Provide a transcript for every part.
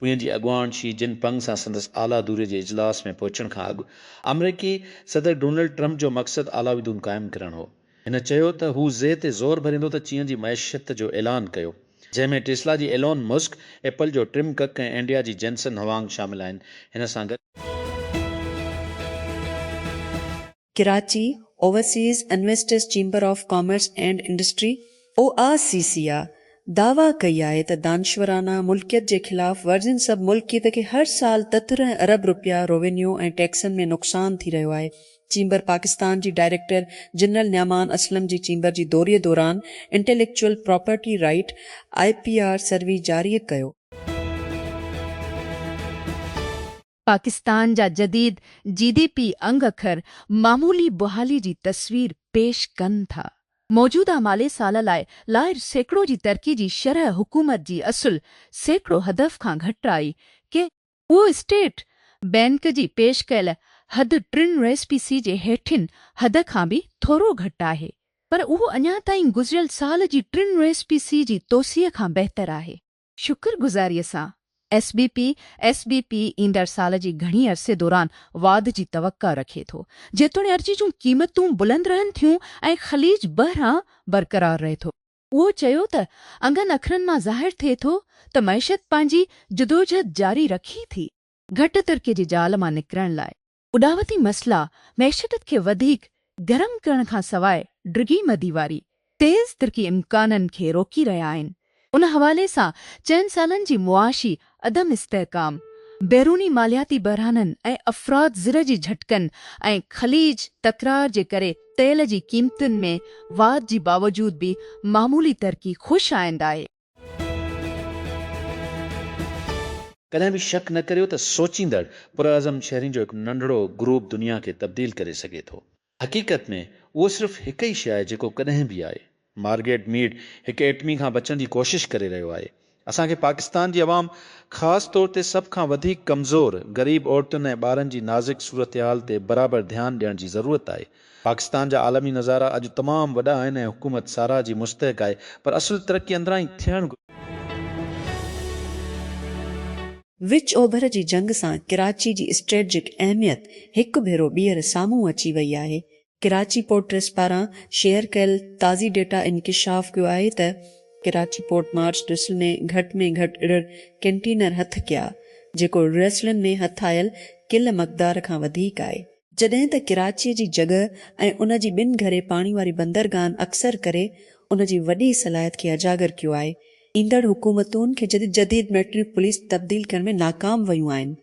پوين جي اڳواڻ شي جن پنگ سان سندس اعليٰ دوري جي اجلاس ۾ پهچڻ کان اڳ آمريڪي صدر ڊونلڊ ٽرمپ جو مقصد علاويدون قائم ڪرڻ هو. هن چيو ته هو زي تي زور ڀريندو ته چين جي معيشت جو اعلان ڪيو، جنهن ۾ ٽيسلا جي ايلون مسڪ، ايپل جو ٽم ڪڪ ۽ انڊيا جي جينسن هوانگ شامل آهن. هن سان گڏ. Karachi, overseas investors chamber of commerce and industry, O I C C I, دعويٰ ڪئي آهي ته دانشورانه ملڪيت جي خلاف ورزين سب ملڪيت کي هر سال تترهن ارب رپيا روينيو ۽ ٽيڪسن ۾ نقصان ٿي رهيو آهي. چيمبر پاڪستان جي ڊائريڪٽر جنرل نعمان اسلم جي چيمبر جي دوري دوران intellectual property right, I P R, survey جاري ڪيو. پاڪستان جا جديد جي ڊي پي انگ اکر معمولي بحالي جي تصوير پيش ڪن ٿا. موجوده مالي سال لاء لائر سيڪڙو جي ترقي جي شرح حڪومت جي اصل سيڪڙو هدف کان گهٽ آئي ڪي اهو اسٽيٽ بئنڪ جي پيش ڪيل حد ٽن ريس پي سي جي هيٺين حد کان به ٿورو گهٽ آهي پر اهو اڃا تائين گذريل سال جي ٽن ريس پي سي جي توسيع کان بهتر آهي. شڪر گذاريء سان ايس بي پي، SBP، ايندڙ سال جي گهڻي عرصي دوران واڌ جي توقع رکي ٿو، جيتوڻيرجي جون قيمتون بلند رهن ٿيون ۽ خليج بحران برقرار رهي ٿو. اهو چيو ته انگن اکرن مان ظاهر ٿئي ٿو ته معيشت پنهنجي جدوجهد جاري رکي ٿي. گهٽ ترڪي جي جال مان نڪرڻ لاء اڏاوتي مسئلا معيشتت کي وڌيڪ گرم ڪرڻ کان سواء ڊگهي مدي واري تيز ترقي امڪانن کي روڪي رهيا آهن. ان حوالي سان چئن سالن جي معاشي عدم استحڪام، بيروني مالياتي بحرانن ۽ افراط زر جي جهٽڪن ۽ خليج تڪرار جي ڪري تيل جي قيمتن ۾ واڌ جي باوجود به معمولي ترقي خوش آئند آهي. ڪڏهن به شڪ نه ڪريو ته سوچيندڙ، پرعزم شهرين جو هڪ ننڍڙو گروپ دنيا کي تبديل ڪري سگهي ٿو. حقيقت ۾ اهو صرف هڪ ئي شيء آهي جيڪو ڪڏهن به آهي. مارگيٽ ميڊ هڪ ايٽمي کان بچڻ جي ڪوشش ڪري رهيو آهي. اسان کي پاڪستان جي عوام خاص طور تي سڀ کان وڌيڪ ڪمزور، غريب عورتن ۽ ٻارن جي نازڪ صورتحال تي برابر ڌيان ڏيڻ جي ضرورت آهي. پاڪستان جا عالمي نظارا اڄ تمام وڏا آهن ۽ حڪومت ساراهه جي مستحق آهي پر اصل ترقي اندران ئي ٿيڻ گهرجي. وچ اوڀر جي جنگ سان ڪراچي جي اسٽريٽجڪ اهميت هڪ ڀيرو ٻيهر سامهون اچي وئي آهي. ڪراچي پورٽ ٽرسٽ پاران شيئر ڪيل تازي ڊيٽا انڪشاف ڪيو آهي ته ڪراچي پورٽ مارچ ڊسل ۾ گهٽ ۾ گهٽ ارڙهن ڪنٽينر هٿ ڪيا جيڪو ريسلن ۾ هٿ آيل ڪل مقدار کان وڌيڪ آهي. جڏهن ته ڪراچيء جي جڳهه ۽ ان جي ٻن گهري پاڻي واري بندرگاهن اڪثر ڪري ان جي وڏي صلاحيت کي اجاگر ڪيو آهي. ايندڙ حڪومتون کي جديد جديد ميٽرو پوليس تبديل ڪرڻ ۾ ناڪام ويون آهن.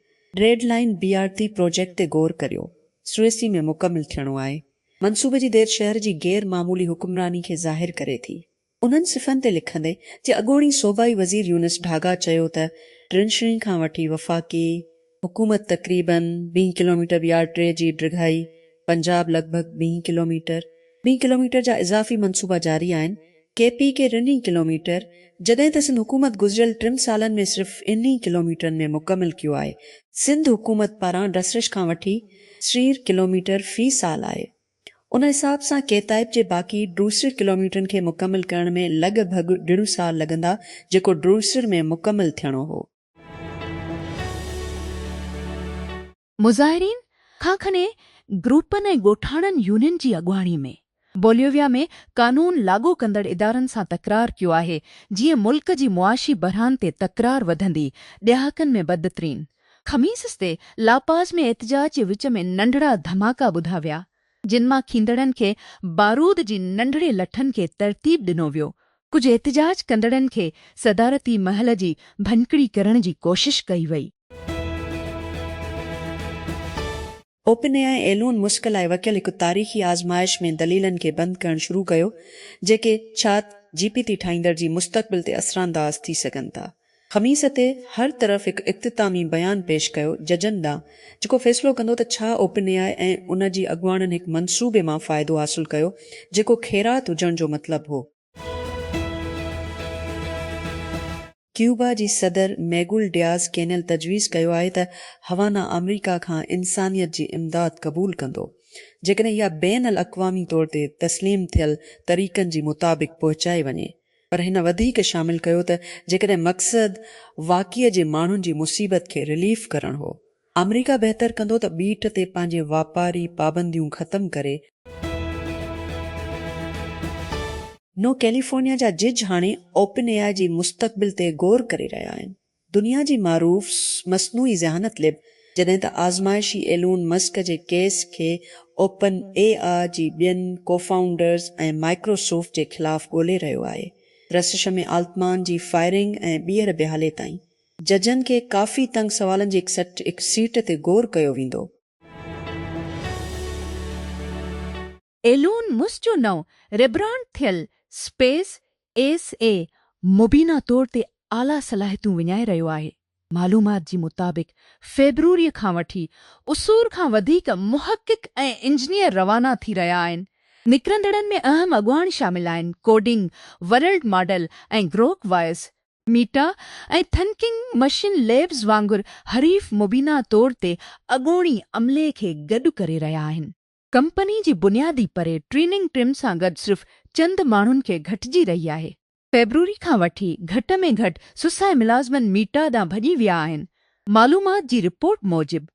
ريڊ لائين بي آر تي پروجيڪٽ تي غور ڪريو. سوئيسي ۾ مڪمل ٿيڻو آهي. منصوبي جي دير شهر جي غير معمولي حڪمراني کي ظاهر ڪري ٿي. انهن صفحن تي لکندي جي اڳوڻي صوبائي وزير يونس ڍاگا چيو ته ڊرينشرين کان وٺي وفاقي حڪومت تقريباً ويهه ڪلوميٽر بي آر ٽي جي ڊگهائي، پنجاب لڳ ڀڳ ويهه ڪلوميٽر، ويهه ڪلوميٽر جا اضافي منصوبا جاري آهن، ڪي پي ڪي رن ئي ڪلوميٽر، جڏهن ته سنڌ حڪومت گذريل ٽن سالن ۾ صرف ان ئي ڪلوميٽرن ۾ مڪمل ڪيو آهي، سنڌ حڪومت پاران ڊسرش کان وٺي سرير ڪلوميٽر في سال آهي، ان حساب سان ڪيتائيپ جي باقي ڊروسر ڪلوميٽرن کي مڪمل ڪرڻ ۾ لڳ ڀڳ ڏڙون سال لڳندا جيڪو ڊروسر ۾ مڪمل ٿيڻو هو. مظاهرين کان کني گروپن ۽ ڳوٺاڻن يونين جي اڳواڻي ۾ بوليويا ۾ قانون لاڳو ڪندڙ ادارن سان تڪرار ڪيو آهي جيئن ملڪ جي معاشي بحران تي تڪرار وڌندي ڏهاڪن ۾ بدترين خميس تي لا پاز ۾ احتجاج جي وچ ۾ ننڍڙا ڌماڪا ٻڌا ويا، جن مان کيندڙن کي بارود جي ننڍڙي لٺن کي ترتيب ڏنو ويو. ڪجهه احتجاج ڪندڙن کي صدارتي محل جي ڀڃڪڙي ڪرڻ جي ڪوشش ڪئي وئي. Open A I Elon Musk لاء وڪيل هڪ تاريخي آزمائش ۾ دليلن کي بند ڪرڻ شروع ڪيو جيڪي چات جي پي تي ٺاهيندڙ جي مستقبل تي اثرانداز ٿي سگهن ٿا. خميس تي هر طرف هڪ اختتامي بيان پيش ڪيو ججن ڏانهن جيڪو فيصلو ڪندو ته ڇا اوپن اي آئي ۽ ان جي اڳواڻن هڪ منصوبي مان فائدو حاصل ڪيو جيڪو خيرات هجڻ جو مطلب هو. ڪيوبا جي صدر ميگول ڊياز ڪينيل تجويز ڪيو آهي ته هوانا آمريڪا کان انسانيت جي امداد قبول ڪندو جيڪڏهن اها بين الاقوامي طور تي تسليم ٿيل طريقن جي مطابق پهچائي وڃي پر هن وڌيڪ شامل ڪيو ته جيڪڏهن مقصد واقعي جي ماڻهن جي مصيبت کي رليف ڪرڻ هو ته آمريڪا بهتر ڪندو ته ٻيٽ تي پنهنجي واپاري پابنديون ختم ڪري. نو ڪيليفورنيا جا جج هاڻي اوپن اي آء جي مستقبل تي غور ڪري رهيا آهن. دنيا جي معروف مصنوعي ذهانت ليب جڏهن ته آزمائشي ايلون مسڪ جي ڪيس کي اوپن اي آء جي ٻين ڪوفائونڊرز ۽ مائڪروسوفٽ جي خلاف ڳولي رهيو آهي رسشمي آلتمان جي فائرنگ ۽ ٻيهر بحالي تائين ججن کي ڪافي تنگ سوالن جي هڪ سيٽ تي غور ڪيو ويندو. ايلون مسڪ جو نئون ريبرانڊ ٿيل اسپيس ايس اي مبينا طور تي اعليٰ صلاحيتون وڃائي رهيو آهي. معلومات جي مطابق فيبروري کان وٺي اسور کان وڌيڪ محقق ۽ انجنيئر روانا ٿي رهيا آهن. نڪرندڙن ۾ اهم اڳواڻ شامل آهن coding world model ۽ Grok voice. Meta ۽ thinking machine labs وانگر حريف مبينا طور تي اڳوڻي عملي کي گڏ ڪري رهيا آهن. ڪمپني جي بنيادي پري ٽريننگ ٽيم سان گڏ صرف چند ماڻهن کي گهٽجي رهي آهي. فيبروري کان وٺي گهٽ ۾ گهٽ سسئي ملازمن ميٽا ڏانهن ڀڄي ويا آهن. معلومات جي رپورٽ موجب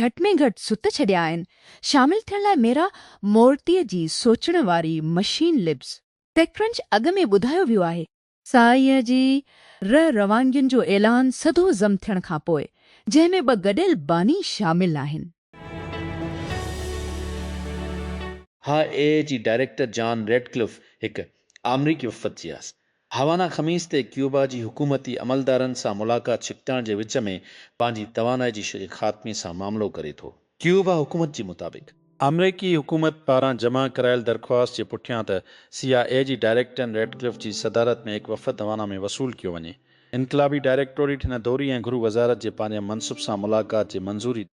گهٽ ۾ گهٽ ست ڇڏيا آهن شامل ٿيڻ لاء ميرا مورتيء جي سوچڻ واري مشين ليبز. ٽيڪڪرنچ اڳ ۾ ٻڌايو ويو آهي سائينء جي رح روانگين جو اعلان سڌو ضم ٿيڻ کان پوء، جنهن ۾ ٻه گڏيل باني شامل آهن. هاء اي اي جي ڊائريڪٽر جان ريڊڪلف هڪ آمريڪي وفد جي آس هاوانا خميس تي ڪيوبا جي حڪومتي عملدارن سان ملاقات ڇڪتاڻ جي وچ ۾ پنهنجي توانائي جي شري خاتمي سان معاملو ڪري ٿو. ڪيوبا حڪومت جي مطابق، آمريڪي حڪومت پاران جمع ڪرايل درخواست جي پٺيان ته سي آء اي جي ڊائريڪٽن ريٽڪلف جي صدارت ۾ هڪ وفد هوانا ۾ وصول ڪيو وڃي. انقلابي ڊائريڪٽوريٽ هن دوري ۽ گهرو وزارت جي پاريان منصب سان ملاقات جي منظوري ڏني.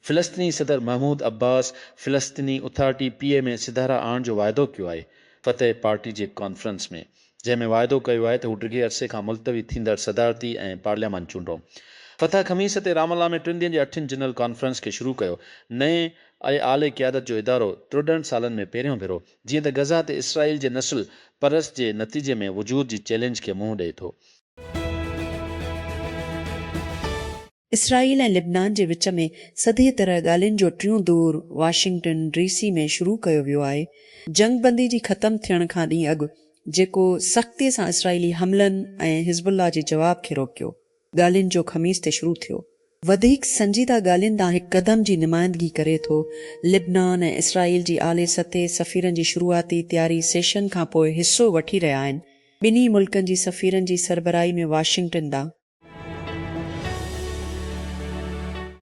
فلسطيني صدر محمود عباس فلسطيني اٿارٽي، پي ايم اي، سڌارا آڻڻ جو واعدو ڪيو آهي، فتح پارٽي جي ڪانفرنس ۾. جنهن ۾ واعدو ڪيو آهي ته هو ڊگهي عرصي کان ملتوي ٿيندڙ صدارتي ۽ پارليامان چونڊون فتح خميس تي رام الله ۾ ٽن ڏينهن جي اٺين جنرل ڪانفرنس کي شروع ڪيو نئين ۽ اعلي قيادت جو ادارو ٽرڙهن سالن ۾ پهريون ڀيرو جيئن ته غزه تي اسرائيل جي نسل پرست جي نتيجي ۾ وجود جي چئلينج کي منهن ڏئي ٿو. اسرائيل ۽ لبنان جي وچ ۾ سڌي طرح ڳالهين جو ٽيون دور واشنگٽن ڊي سي ۾ شروع ڪيو ويو آهي. جنگ بندي جي ختم ٿيڻ کان ڏينهن اڳ جيڪو سختي سان اسرائيلي حملن ۽ حزب الله جي جواب کي روڪيو، ڳالهين جو خميس تي شروع ٿيو. وڌيڪ سنجيده ڳالهين ڏانهن هڪ قدم جي نمائندگي ڪري ٿو. لبنان ۽ اسرائيل جي اعلي سطحي سفيرن جي شروعاتي تياري سيشن کانپوء حصو وٺي رهيا آهن. ٻنهي ملڪن جي سفيرن جي سربراهي ۾ واشنگٽن ڏانهن.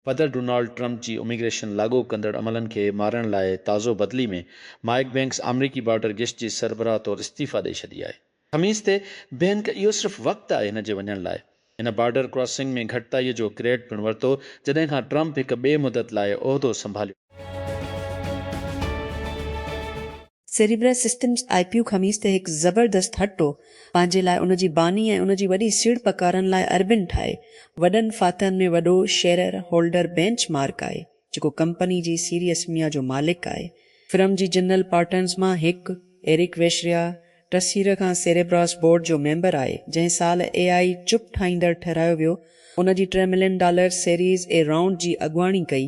پدر ڊونالڊ ٽرمپ جي اميگريشن لاڳو ڪندڙ عملن کي مارڻ لاء تازو بدلي ۾ مائيڪ بينڪس آمريڪي بارڊر گشت جي سربراهه طور استعيفيٰ ڏئي ڇڏي آهي خميس تي بينڪ اهو صرف وقت آهي هن جي وڃڻ لاء هن بارڊر ڪراسنگ ۾ گهٽتائي جو ڪريڊٽ پڻ ورتو جڏهن کان ٽرمپ هڪ ٻي مدت لاء عهدو سنڀاليو. سيريبرس سسٽمز آء پيو خميس تي هڪ زبردست هٽو پنهنجي لاء ان جي باني ۽ ان جي وڏي سيڙپڪارن لاء اربن ٺاهي وڏن فاتحن ۾ وڏو شيرر هولڊر بينچ مارڪ آهي جيڪو ڪمپني جي سيريسميا جو مالڪ آهي. فرم جي جنرل پارٽنرز مان هڪ ايرڪ ويشريا ٽسير کان سيريبراس بورڊ جو ميمبر آهي جنهن سال اي آء چپ ٺاهيندڙ ٺهرايو ويو ان جي ٽي million dollar series A round جي اڳواڻي ڪئي.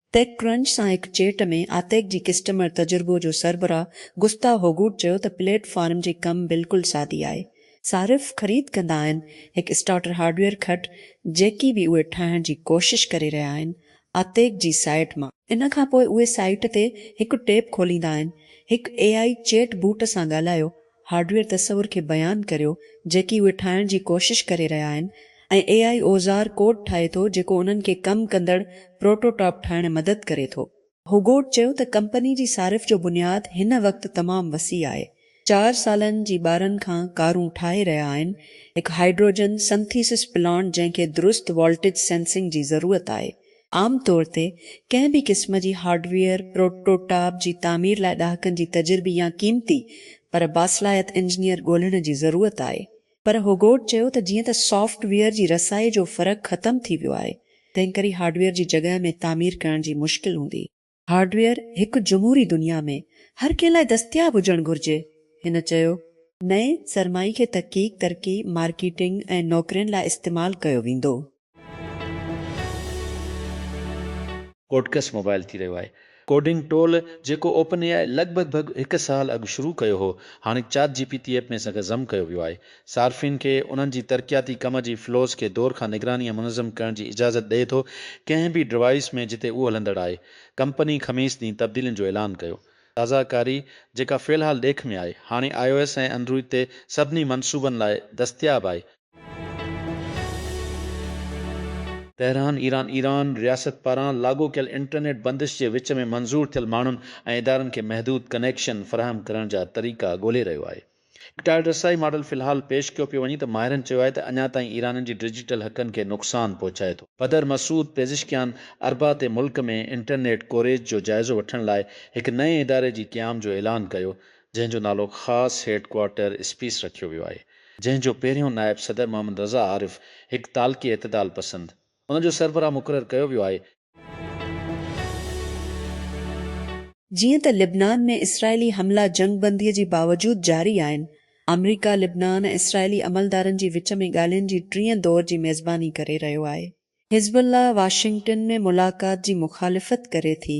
ٽيڪ ڪرنچ سان هڪ چيٽ ۾ آتيڪ جي ڪسٽمر تجربو جو سربراهه گستا هوگوٽ چيو ته پليٽ فارم جي ڪم بلڪل سادي آهي. صارف خريد ڪندا آهن هڪ اسٽارٽر هارڊويئر کٽ جيڪي به اهي ٺاهڻ جي ڪوشش ڪري رهيا آهن آتيڪ جي سائيٽ مان. ان کانپوء اهي سائيٽ تي هڪ ٽيب کوليندا آهن هڪ اي آئي چيٽ بوٽ سان ڳالهايو هارڊويئر تصور کي بيان ڪريو جيڪي اهي ٺاهڻ جي ڪوشش ڪري رهيا آهن ۽ اي آء اوزار ڪوڊ ٺاهي ٿو جيڪو انهن کي ڪم ڪندڙ پروٽوٽاپ ٺاهڻ ۾ مدد ڪري ٿو. هوگوٽ چيو ته ڪمپني جي صارف جو بنياد هن وقت تمام وسيع آهي، چار سالن جي ٻارن کان ڪارون ٺاهي رهيا آهن، هڪ هائڊروجن سنٿيسس پلانٽ جنهن کي درست والٽيج سينسنگ جي ضرورت آهي، عام طور تي ڪنهن به قسم جي هارڊويئر پروٽوٽاپ جي تعمير لاء ڏهاڪن جي تجربي يا قيمتي پر باصلاحيت انجنيئر ڳولهڻ جي ضرورت آهي. پر هوگوٽ چيو ته جيئن ته سافٽ ويئر جي رسائي جو فرق ختم ٿي ويو آهي، تنهنڪري هارڊويئر جي جڳهه ۾ تعمير ڪرڻ جي مشڪل هوندي. هارڊويئر هڪ جمهوري دنيا ۾ هر ڪنهن لاء دستياب هجڻ گهرجي، هن چيو. نئين سرمائي کي تحقيق، ترقي، مارڪيٽنگ ۽ نوڪرين لاء استعمال ڪيو ويندو. ڪوڊڪس موبائل ٿي رهيو آهي ڪوڊنگ ٽول جيڪو اوپن اي آء لڳ ڀڳ ڀڳ هڪ سال اڳ شروع ڪيو هو هاڻي ChatGPT app ۾ سان گڏ ضم ڪيو ويو آهي صارفين کي انهن جي ترقياتي ڪم جي فلوز کي دور کان نگراني ۽ منظم ڪرڻ جي اجازت ڏئي ٿو ڪنهن به ڊوائيس ۾ جتي اهو هلندڙ آهي. ڪمپني خميس ڏينهن تبديلين جو اعلان ڪيو. تازه ڪاري جيڪا في الحال ڏيک ۾ آهي، هاڻي آء او ايس ۽ انڊروئيڊ تي سڀني منصوبن لاء دستياب آهي. تهران، ايران ايران رياست پاران لاڳو ڪيل انٽرنيٽ بندش جي وچ ۾ منظور ٿيل ماڻهن ۽ ادارن کي محدود ڪنيڪشن فراهم ڪرڻ جا طريقا ڳولي رهيو آهي. ٽائر رسائي ماڊل في الحال پيش ڪيو پيو وڃي ته ماهرن چيو آهي ته اڃا تائين ايرانين جي ڊجيٽل حقن کي نقصان پهچائي ٿو. بدر مسعود پيزشڪيان اربع تي ملڪ ۾ انٽرنيٽ ڪوريج جو جائزو وٺڻ لاء هڪ نئين اداري جي قيام جو اعلان ڪيو جنهن جو نالو خاص هيڊ ڪوارٽر اسپيس رکيو ويو آهي جنهن جو پهريون نائب صدر محمد رضا عارف هڪ تعلقي اعتدال پسند ان جو سربراهه مقرر ڪيو ويو آهي جيئن ته لبنان ۾ اسرائيلي حملا جنگ بندي جي باوجود جاري آهن، آمريڪا لبنان ۽ اسرائيلي عملدارن جي وچ ۾ ڳالهين جي ٽئين دور جي ميزباني ڪري رهيو آهي. حزب الله واشنگٽن ۾ ملاقات جي مخالفت ڪري ٿي.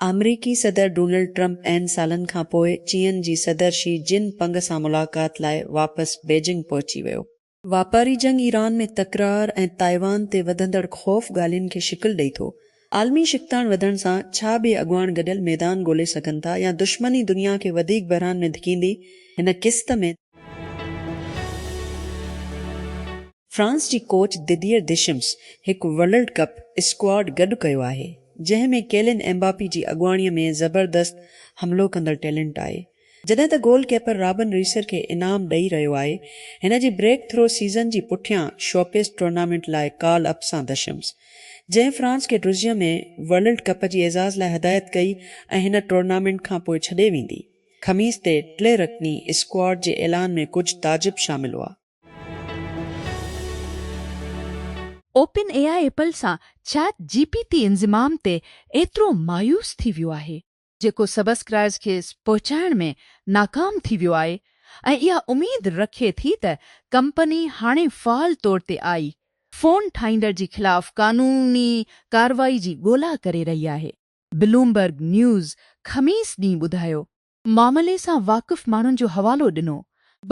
آمريڪي صدر ڊونلڊ ٽرمپ اين سالن کانپوء چين جي صدر شي جن پنگ سان ملاقات لاء واپس بيجنگ پهچي ويو. واپاري جنگ ايران ۾ تڪرار ۽ تائيوان تي وڌندڙ خوف ڳالهين کي شڪل ڏئي ٿو. عالمي ڇڪتاڻ وڌڻ سان ڇا ٻئي اڳواڻ گڏيل ميدان ڳولي سگهن ٿا يا دشمن ئي دنيا کي وڌيڪ بحران ۾ ڌڪيندي هن قسط ۾. فرانس جي ڪوچ دديئر ديشمس هڪ ورلڊ ڪپ اسڪواڊ گڏ ڪيو آهي جنهن ۾ ڪيلين ايمباپي جي اڳواڻي ۾ زبردست حملو ڪندڙ ٽيلنٽ آهي. جڏهن ته گول ڪيپر رابن ريسر کي انعام ڏئي رهيو آهي، هن جي بريڪ ٿرو سيزن جي پٺيان شوپيس ٽورنامينٽ لاء ڪال اپ سان دشمس، جنهن فرانس کي ڊرزيم ۾ ورلڊ ڪپ جي اعزاز لاء هدايت ڪئي ۽ هن ٽورنامينٽ کانپوء ڇڏي ويندي. خميس تي ٽي رڪني اسڪواڊ جي اعلان ۾ ڪجهه تعجب شامل هئا. اوپن اي آء ايپل سان چيٽ جي پي ٽي انضمام تي ايترو مايوس ٿي ويو آهي. جيڪو سبسڪرائرز کي پهچائڻ ۾ ناڪام ٿي ويو آهي ۽ اها اميد رکي ٿي ته ڪمپني هاڻي فعال طور تي آئي فون ٺاهيندڙ جي خلاف قانوني ڪارروائي جي ڳولا ڪري رهي آهي. بلومبرگ نيوز خميس ڏينهن ٻڌايو. معاملي سان واقف ماڻهن جو حوالو ڏنو.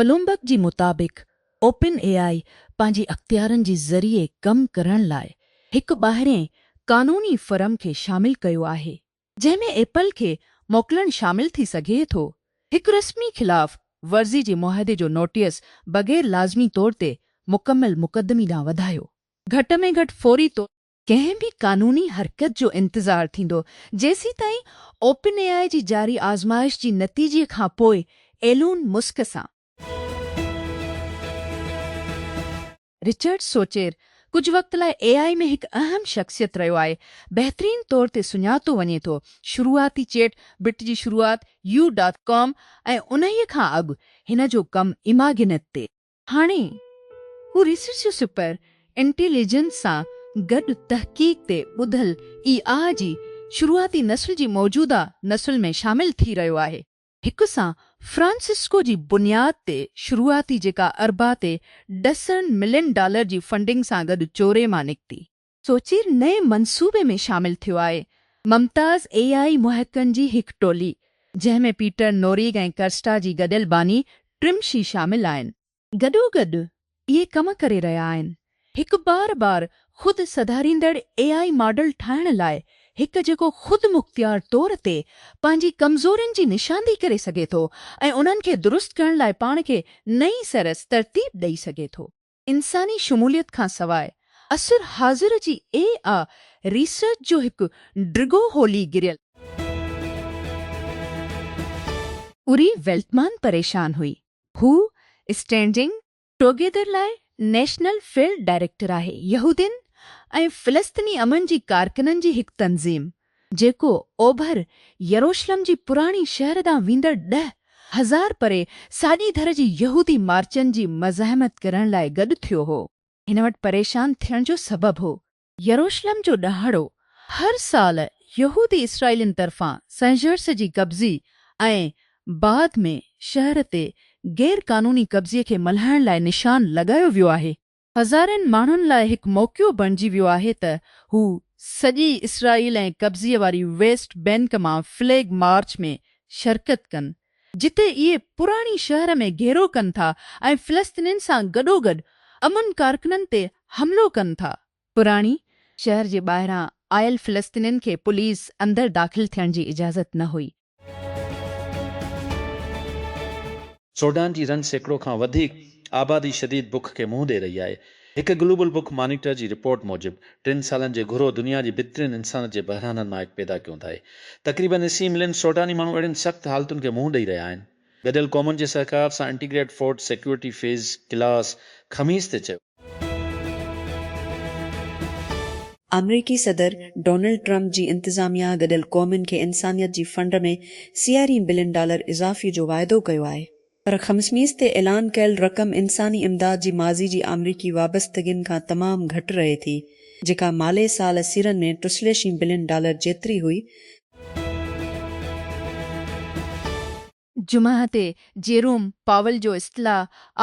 بلومبرگ جي مطابق اوپن اي آئي پنهنجي اختيارن جي ذريعي ڪم ڪرڻ لاء هڪ ٻاهرين قانوني فرم کي شامل ڪيو آهي. جنهن ۾ ايپل کي موڪلڻ شامل ٿي سگهي ٿو. هڪ رسمي خلاف ورزي جي معاهدي جو نوٽيس بغير لازمي طور تي مڪمل مقدمي ڏانهن وڌايو، گهٽ ۾ گهٽ فوري طور. ڪنهن به قانوني حرڪت جو انتظار ٿيندو جيسيتائين اوپن اي آء جي جاري آزمائش جي نتيجي کانپوء ايلون مسڪ سان. رچرڊ سوچير ڪجهه وقت لاء اي آء ۾ هڪ اهم شخصيت رهيو آهي. بهترين طور تي سڃاتو وڃي ٿو. شروعاتي چيٽ بٽ جي شروعات يو ڊاٽ ڪام ۽ انهيء کان اڳ هن جو ڪم ايماگنيٽ تي. هاڻي هو ريسرچ سپر انٽيليجنس سان گڏ تحقيق تي ٻڌل اي آء جي شروعاتي نسل جي موجوده نسل ۾ شامل ٿي رهيو آهي. هڪ سان فرانسسڪو جي بنياد تي شروعاتي جيڪا اربع تي ڏسڻ ملين ڊالر جي فنڊنگ سان گڏ چوري مان نڪتي. سوچير نئين منصوبي ۾ شامل ٿيو آهي ممتاز اي آء محققن جي هڪ ٽولي جنهن ۾ پيٽر نوريگ ۽ ڪرسٽا جي گڏيل باني ٽرم شي شامل آهن. گڏوگڏ اهي ڪم ڪري رهيا آهن. هڪ بار بار خود سڌاريندڙ اي آء ماڊل ٺاهڻ لاء هڪ جيڪو خود مختيار طور تي پنهنجي ڪمزورين جي نشاندهي ڪري سگهي ٿو ۽ انهن کي درست ڪرڻ لاء پاڻ کي نئين سرس ترتيب ڏئي سگهي ٿو. انساني شموليت کان سواء عصر حاضر جي اي آء ريسرچ جو هڪ ڊگهو هولي گريل. اوري ويلٽمان پريشان هئي هو اسٽينڊنگ ٽوگيدر لاء نيشنل فيلڊ ڊائريڪٽر آهي، يهودين ۽ فلسطيني امن جي ڪارڪنن جي هڪ تنظيم، جيڪو اوڀر يروشلم جي پراڻي شهر ڏانهن ويندڙ ڏهه هزار پري ساڄي ڌر جي يهودي مارچن جي مزاحمت ڪرڻ لاء گڏ ٿيو هو، هن وٽ پريشان ٿيڻ جو سبب هو. يروشلم جو ڏهاڙو هر سال يهودي اسرائيلين طرفان سنگهرس جي قبضي ۽ بعد ۾ شهر تي غير قانوني قبضي کي ملهائڻ لاء نشان لڳايو ويو آهي. هزارين ماڻهن لاء هڪ موقعو بڻجي ويو آهي ته هو سڄي اسرائيل ۽ قبضي واري ويسٽ بينڪ مان فليگ مارچ ۾ شرڪت ڪن ۽ جتي اهي پراڻي شهر ۾ گهيرو ڪن ٿا ۽ فلسطينين سان گڏوگڏ امن ڪارڪنن تي حملو ڪن ٿا. پراڻي شهر جي ٻاهران آيل فلسطينين کي پوليس اندر داخل ٿيڻ جي اجازت نه هئي. سوڊان جي رن سيڪڙو کان وڌيڪ آبادي شديد بک کي منهن ڏئي رهي آهي. هڪ گلوبل بوڪ مانيٽر جي رپورٽ موجب ٽن سالن جي گهرو دنيا جي بھترين انسانت جي بحرانن مان هڪ پيدا ڪيون ٿاهي. تقريبن اسي ملين سوڊاني ماڻهو اهڙين سخت حالتن کي منهن ڏئي رهيا آهن. گڏيل قومن جي سهڪار سان integrate food security phase class خميس تي چيو. آمريڪي صدر ڊونلڊ ٽرمپ جي انتظاميا گڏيل قومن کي انسانيت جي فنڊ ۾ سيارين بلين ڊالر اضافي جو واعدو ڪيو آهي. پر خمسميز تي اعلان ڪيل رقم انساني امداد جي ماضي جي آمريڪي وابستگين کان تمام گهٽ رهي ٿي، جيڪا مالي سال سيرن ۾ ٽسليشين بلين ڊالر جيتري هئي. جمعه تي جيروم پاول جو استعلا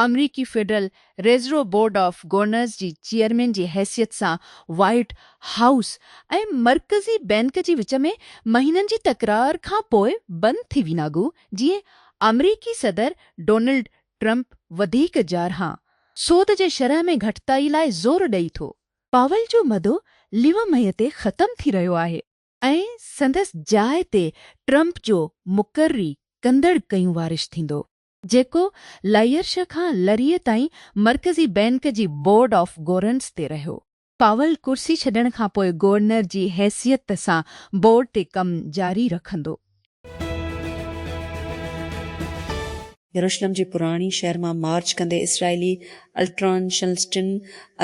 آمريڪي federal reserve board of governors جي چيئرمين جي حيثيت سان وائيٽ هائوس ۽ مرڪزي بينڪ جي وچ ۾ مهينن جي تڪرار کان پوء بند ٿي ويناگون جيئن آمريڪي صدر ڊونلڊ ٽرمپ وڌيڪ جارحان سود جي شرح ۾ گهٽتائي لاء زور ڏئي ٿو. پاول جو مدو ليو مئي تي ختم ٿي رهيو آهي ۽ سندس جاء تي ٽرمپ جو مقرري ڪندڙ ڪيون وارش ٿيندو، جيڪو لائيرش کان لري تائين مرڪزي بئنڪ جي بورڊ آف گورنرز تي رهيو. پاول ڪرسي ڇڏڻ کانپوء گورنر جي حيثيت سان بورڊ تي ڪم جاري رکندو. يروشلم جي پراڻي شهر مان مارچ ڪندي اسرائيلي الٽران شلسٽن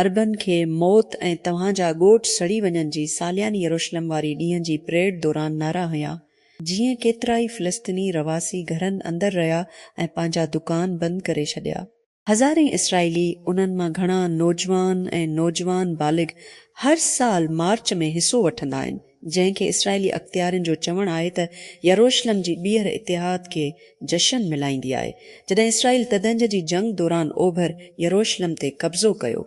عربن کي موت ۽ توهان جا ڳوٺ سڙي وڃن جي سالياني يروشلم واري ڏينهن جي پريڊ دوران نعرا هنيا جيئن ڪيترائي فلسطيني رهواسي گهرن اندر رهيا ۽ پنهنجا دڪان بند ڪري ڇڏيا. هزارين اسرائيلي، انهن مان گهڻا نوجوان ۽ نوجوان بالغ، هر سال مارچ ۾ حصو وٺندا آهن، جنهن کي اسرائيلي اختيارين جو چوڻ آهي ته يروشلم جي ٻيهر اتحاد کي جشن ملائيندي آهي، جڏهن اسرائيل تدهنجه جي جنگ دوران اوڀر يروشلم تي قبضو ڪيو.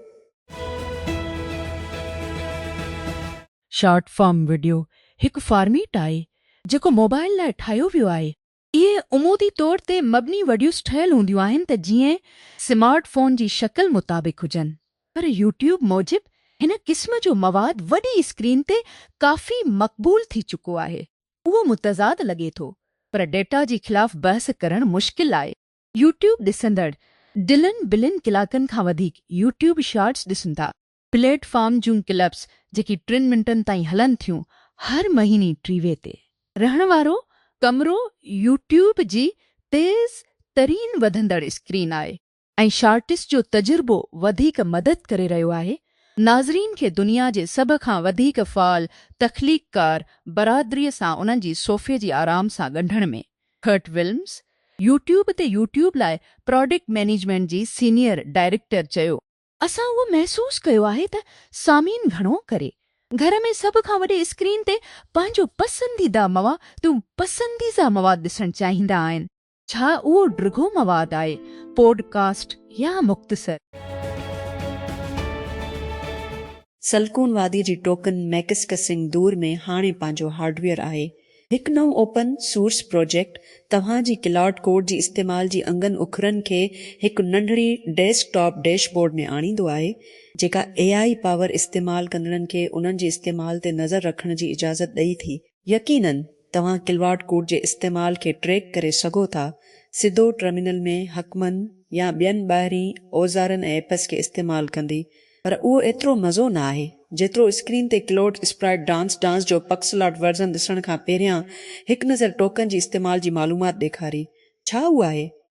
شارٽ فارم وڊيو هڪ فارميٽ آهي جيڪو موبائل لاء ٺاهيو ويو آهي. اهي عمودي طور تي مبني وڊيوز ٺهيل هونديون آهن ته جيئن سمارٽ فون جي شڪل مطابق هجن پر يوٽيوب موجب هن قسم جو مواد وڏي اسڪرين تي ڪافي مقبول ٿي چڪو آهي اهو متضاد لڳي ٿو پر ڊيٽا جي خلاف بحث ڪرڻ مشڪل آهي. يوٽيوب ڏسندڙ ڊلن بلن ڪلاڪن کان وڌيڪ يوٽيوب شارٽس ڏسن ٿا. پليٽ فارم جون ڪلپس جيڪي ٽن منٽن تائين هلن ٿيون هر مهيني ٽي وي تي رهڻ وارو ڪمرو يوٽيوب جي تيز ترين وڌندڙ اسڪرين آهي ۽ شارٽس جو تجربو وڌيڪ مدد ڪري رهيو آهي ناظرين کي دنيا جي سڀ کان وڌيڪ فعال تخليق ڪار برادري سان انهن جي صوفي جي آرام سان ڳنڍڻ ۾ ڪرٽ ولمز يوٽيوب تي يوٽيوب لاء پراڊڪٽ مينيجمينٽ جي سينيئر ڊائريڪٽر چيو. اسان اهو محسوس ڪيو آهي ته سامعين گهڻو ڪري گهر ۾ سڀ کان وڏي اسڪرين تي پنهنجو پسنديده موا دون پسنديزه مواد ڏسڻ چاهيندا آهن، ڇا اهو ڊگهو مواد آهي، پوڊ ڪاسٽ يا مختصر. سلڪون وادي جي ٽوڪن ميڪسڪسنگ دور ۾ هاڻي پنهنجو هارڊويئر آهي. هڪ نئون اوپن سورس پروجيڪٽ توهان جي ڪلائوڊ ڪوڊ جي استعمال جي انگن اکرن کي هڪ ننڍڙي ڊيسڪ ٽاپ ڊيش بورڊ ۾ آڻيندو آهي، جيڪا اي آء پاور استعمال ڪندڙن کي انهن جي استعمال تي نظر رکڻ جي اجازت ڏئي ٿي. يقينن توهان ڪلائوڊ ڪوڊ جي استعمال کي ٽريڪ ڪري سگهو ٿا، سڌو ٽرمينل ۾ حڪمن يا ٻين ٻاهرين اوزارن ۽ ايپس کي استعمال ڪندي، پر اهو ايترو مزو نه آهي جيترو اسڪرين تي ڪلوڊ اسپرائٽ ڊانس ڊانس جو پڪسلارٽ ورزن ڏسڻ کان پهريان هڪ نظر ٽوڪن جي استعمال جي معلومات ڏيکاري. ڇا اهو آهي؟